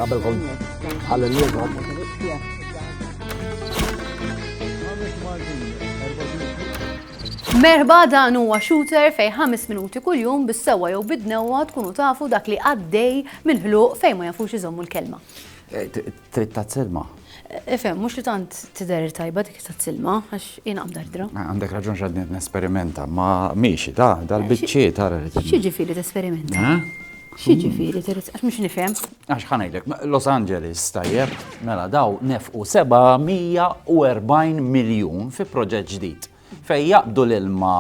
Qabel kont għal-lieba. Merba dan huwa shooter fej 5 minuti kuljum bis-sewwa jew bid-dnewwa tkunu tafu dak li għaddej mill-ħluq fejn ma jafux iżommu l-kelma. Eh, Trid tazzilma. Ifhem, mhux li tant tidher tajba dik tazzilma, għax jien għamdardra. Ah, għandek raġun x'għadni nesperimenta, ma miexi ta' dal-biċċi ta' X'jiġifieri tesperimenta? Eh? X'jiġifieri trid għax mhux nifhem. Għax ħanejlek, Los Angeles tajjeb, mela daw nefqu 740 miljun fi proġett ġdid fejn jaqbdu l-ilma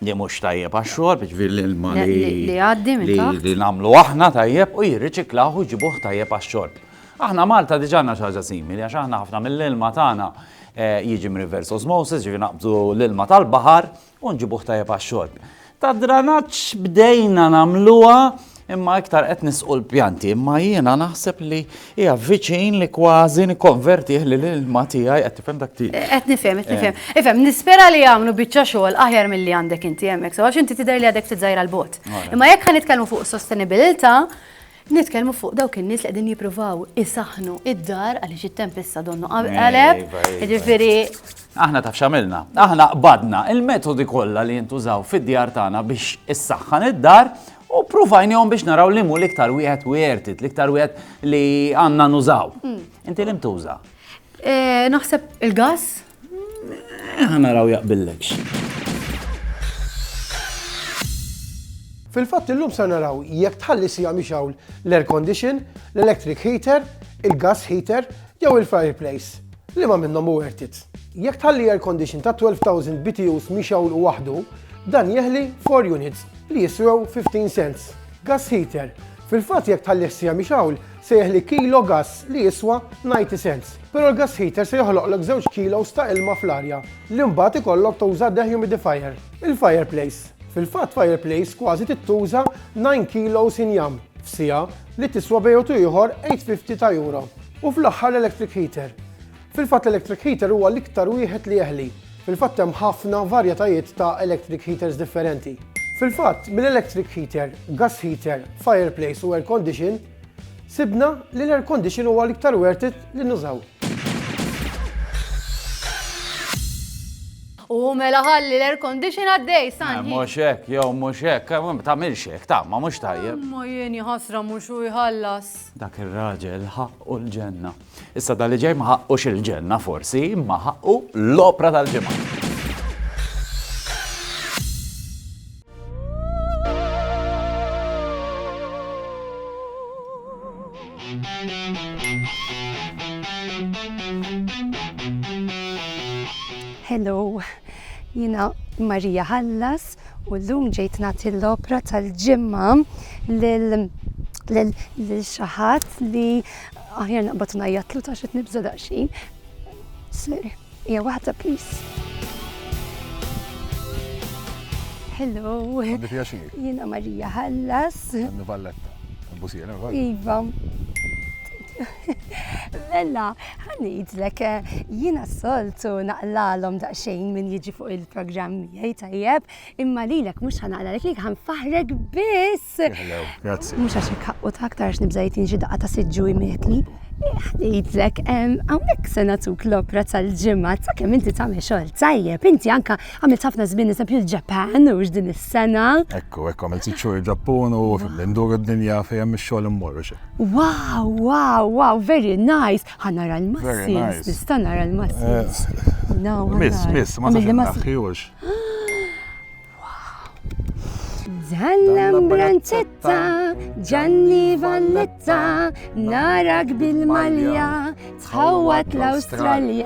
li mhux tajjeb għax-xorb, jiġifieri l-ilma li nagħmlu aħna tajjeb u jirriċiklawh u jġibuh tajjeb għax-xorb. Aħna Malta diġà għandna xi ħaġa simili għax aħna ħafna mill-ilma tagħna jiġi mir-reverse osmosis, jiġifieri naqbdu l-ilma tal-baħar u nġibuh tajjeb għax-xorb. Tad-dranaġġ bdejna nagħmluha Imma iktar qed nisqu l-pjanti, imma jiena naħseb li hija viċin li kważi nikkonvertih li l-ilma tiegħi qed tifhem dak tiegħi. Eh, qed nifhem, qed nifhem. Eh. Ifhem, nispera li jagħmlu biċċa xogħol aħjar milli għandek inti hemmhekk, so għax inti tidher li għadek ftit żgħira l-bot. Imma jekk ħa nitkellmu fuq sostenibilità, nitkellmu fuq dawk in-nies li qegħdin jippruvaw isaħnu id-dar għaliex it-tempesta donnu qaleb, jiġifieri Aħna taf xamilna, aħna qbadna il-metodi kollha li jintużaw fid-djar tagħna biex issaħħan id-dar U provajnihom biex naraw li mu l-iktar wieħed worth it, l-iktar wieħed li għandna nużaw. Hmm. Inti li mtuża? Eh, naħseb il-gas? Eh, Għana raw jaqbillekx. Fil-fatt illum sa naraw jekk tħalli sija miex hawn l-air condition, l-electric heater, il-gas heater, Jew il-fireplace, liema minnhom hu worth it? Jekk tħalli air condition ta' 12,000 BTUs mixgħul waħdu, dan jeħli 4 units li jiswew 15 cents. Gas heater, Fil-fatt jekk tħallih siegħa mixgħul, se jeħli kilo gass li jiswa 90 cents. Però l-gas heater se joħloqlek żewġ kilos ta' ilma fl-arja li mbagħad ikollok tuża dehumidifier. Il-fireplace, Fil-fatt fireplace kważi tittuża 9 kilos injam f'siegħa li tiswa bejn u ieħor 850 ta' euro. U fl-aħħar l-electric heater. Fil-fatt l-electric heater huwa l-iktar wieħed li jeħli. Fil-fatt hemm ħafna varjetajiet ta' electric heaters differenti. Fil-fatt, mill-electric heater, gas heater, fireplace u air condition, sibna li l-air condition huwa l-iktar worth it li nużaw. U mela ħalli l-air condition għaddej, eh, Sanji. Mux hekk, jew mux hekk, eh, tagħmilx hekk, ta' ma mhux tajjeb. Ma jien jħasra mhux u jħallas. Dak ir-raġel ħaqqu l-ġenna. Issa dali ġej ma ħaqqux il-ġenna forsi, imma ħaqqu l-opra tal-ġimgħa. Hello, jina Marija Hallas, U llum ġejt nagħti l-opra tal-ġimgħa lil lil xi ħadd li aħjar naqbad ngħajjatlu ta' xi nibża' daqsxejn. Sir, hija waħda please. Hello. Għandi pjaċir. Jiena Marija Ħallas. Għandi Valletta. Busija, Iva. Mela, ħa ngħidlek, jiena s-soltu naqlalhom daqsxejn min jiġi fuq il-programm miegħi tajjeb, imma lilek mhux ħa naqlalek lilek ħa nfaħħrek biss. Grazzi. Mhux għax hekk ħaqqu ta' aktar għax nibża' jgħidni xi daqqa ta' siġġu jmietni. Ħa ngħidlek, hawnhekk se nagħtuk l-opra tal-ġimgħa ta' kemm inti tagħmel xogħol tajjeb. Inti anke għamilt ħafna żmien eżempju l-Ġapan mhux din is-sena. Ekku, ekku, għamilt sitt xhur il-Ġappun u fil-indur id-dinja fejn hemm ix-xogħol immur, u x'hekk. Wow, wow, wow, very nice. Ħa nara l-muscles, nista' nara l-muscles. Miss, miss, ma nafx naħħiwx. Zallam branċetta, ġanni valletta, narak bil-malja, tħawat l-Awstralja.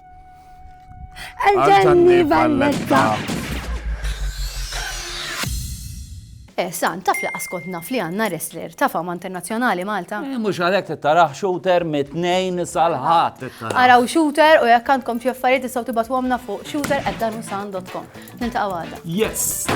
Għal-ġanni Valletta. Eh, san, taf li qaskont naf li għanna wrestler ta' fama internazjonali Malta. Eh, mux għalek t-taraħ shooter mit-tnejn salħat. Araw shooter u jek għandkom xie affarijiet tistaw tibatu għamna fuq shooter at danusan.com. Nilta' għada. Yes!